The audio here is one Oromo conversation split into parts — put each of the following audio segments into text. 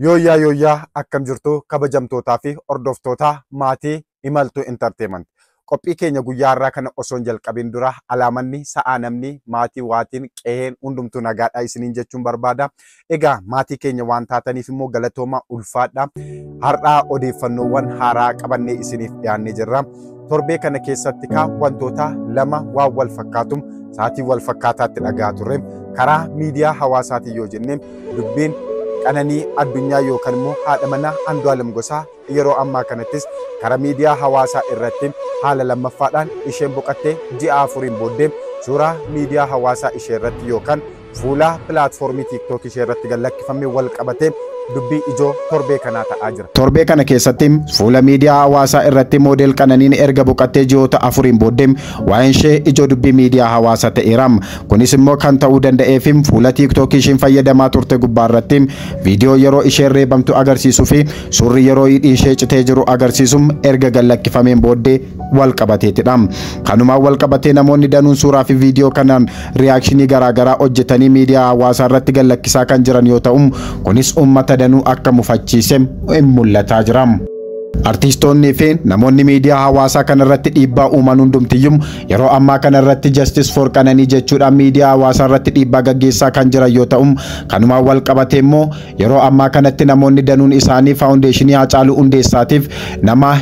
Yooyyaa yooyyaa akkam jirtu kabajamtootaa fi hordoftoota maatii Imaltuu Entertainment. Qophii keenya guyyaa har'aa kana osoo hin jalqabin dura alaamanni sa'aa namni maatii waatiin qeheen hundumtuu nagaadhaa isiniin jechuun barbaada. Egaa maatii keenya waan taataniif immoo galatooma ulfaadha. Har'aa odeeffannoowwan haaraa qabannee isiniif dhiyaannee jirra. torbee kana keessatti kaa wantoota lama waan wal fakkaatu sa'aatii wal fakkaataatti dhagahaa turre karaa miidiyaa hawaasaatiin yoo jenne dubbiin qananii addunyaa yookaan immoo haadha manaa Andu'aalem Gosaa yeroo ammaa kanattis karaa miidiyaa hawaasaa irratti haala lammaffaadhaan isheen boqattee ji'a afuriin booddee suuraa miidiyaa hawaasaa ishee irratti yookaan Fuula pilaatfoormii TikTok ishee irratti gad lakkifameen wal qabatee dubbii ijoo torbee kanaa ta'aa jira. Torbee kana keessatti fuula miidiyaa hawaasaa irratti moodel Qananiin erga boqattee ji'oota afuriin booddee waa'een ishee ijoo dubbii miidiyaa hawaasaa ta'eera. Kunis immoo kan ta'uu danda'eef fuula TikTok ishiin fayyadamaa turte gubbaa irratti viidiyoo yeroo isheen reebamtu agarsiisuu fi suurri yeroo hidhiin ishee citee jiru agarsiisu erga gad lakkifameen booddee wal qabateetidha. Kanumaan wal qabatee namoonni danuun suuraa fi viidiyoo kanaan riyaakshinii garaagaraa hojjetanii miidiyaa hawaasaa irratti gallakkisaa kan jiran yoo ta'u, kunis uummata danuu akka mufachiise mul'ataa jira. Artiistoonnii fi namoonni miidiyaa hawaasaa kana irratti dhiibbaa uuman hundumtiyyuu yeroo ammaa kana irratti Justice for Qananii jechuudhaan miidiyaa hawaasaa irratti dhiibbaa gaggeessaa kan jiran yoo ta'u, kanumaan wal qabatee immoo yeroo ammaa kanatti namoonni danuun isaanii faawundeeshinii Hacaaluu Hundeessaatiif nama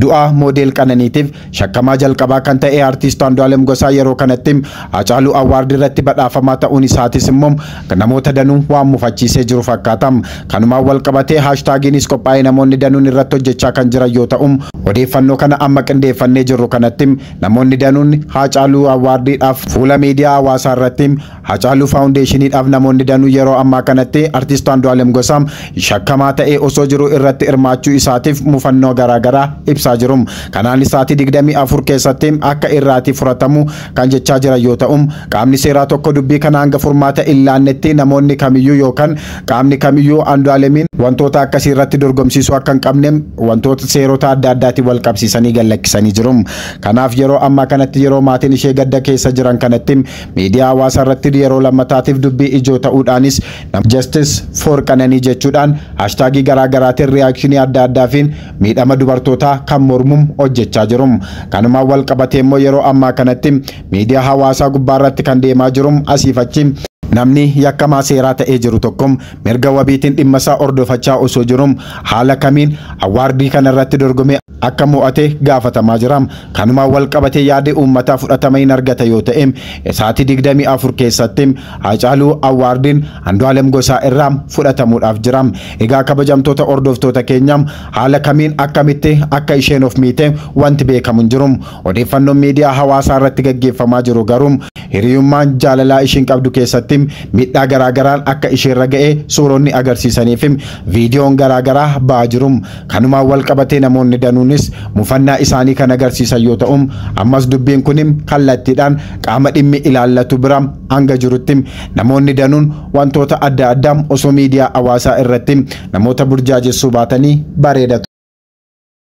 Du'a moodeel Qananiitiif shakkamaa jalqabaa kan ta'e Artiist Andu'aalem Gosaa yeroo kanatti Hacaaluu Awwaard irratti badhaafamaa ta'uun isaatis immoo namoota danuu waan mufachiisee jiru fakkaata. Kanumaan walqabatee haashtaagiinis qophaa'ee namoonni danuun irratti hojjechaa kan jiran yoo ta'u, odeeffannoo kana amma qindeeffannee jirru kanatti namoonni danuun Haacaaluu Awwaardiidhaaf fuula miidiyaa hawaasaa irratti Hacaaluu Faawundeeshiniidhaaf namoonni danuu yeroo ammaa kanatti Artiist Andu'aalem Gosaa shakkamaa ta'ee osoo jiruu irratti hirmaachuu isaatiif mufannoo garaa garaa ibsaa jiru. Kanaanis sa'aatii 24 keessatti akka irraatii furatamu kan jechaa jiran yoo ta'u, qaamni seeraa tokko dubbii kana hanga furmaata hin laannetti namoonni kamiyyuu yookan qaamni kamiyyuu Andu'aalemiin wantoota akkasii irratti dorgomsiisuu akka hin qabne wantoota seerota adda addaatiin wal qabsiisanii gad lakkisanii jiru. Kanaaf yeroo ammaa kanatti yeroo maatiin ishee gadda keessa jiran kanatti Miidiyaa hawaasaa irratti yeroo lammataatiif dubbii ijoo ta'uudhaanis nama Justice for Qananii jechuudhaan haashtaagii garaa garaatiin riyaakshinii adda addaafiin miidhama dubartootaa kan mormum hojjechaa jiru. Kanumaan wal qabatee immoo yeroo ammaa kanatti miidiyaa hawaasaa gubbaarratti kan deemaa jirum asiif achi namni yakkamaa seeraa ta'ee jiru tokkom mirga wabiitiin dhimmasaa hordofachaa osoo jirum haala kamiin awwaardii kanarratti dorgomee akka mo'ate gaafatamaa jira. Kanumaan wal qabatee yaadi uummataa fudhatama hin argata yoo ta'e sa'aatii 24 keessatti Haacaaluu Awwaardiin Andu'aalem Gosaa irraa fudhatamuudhaaf jira. Egaa kabajamtoota hordoftoota keenya haala kamiin akkamitti akka isheen of miite wanti beekamu hin jiru. Odeeffannoon miidiyaa hawaasaa irratti gaggeeffamaa jiru garuu hiriyummaan jaalalaa ishiin qabdu keessatti miidhaa garaa garaan akka isheerra ga'e suuronni agarsiisanii fi viidiyoon garaa garaa ba'aa jiru. Kanumaan wal qabatee namoonni danuunis mufannaa isaanii kan agarsiisan yoo ta'u, ammas dubbiin kun kallattiidhaan qaama dhimmi ilaallatu bira hanga jirutti namoonni danuun wantoota adda addaa osoo miidiyaa hawaasaa irratti namoota burjaajessuu baatanii bareeda ture.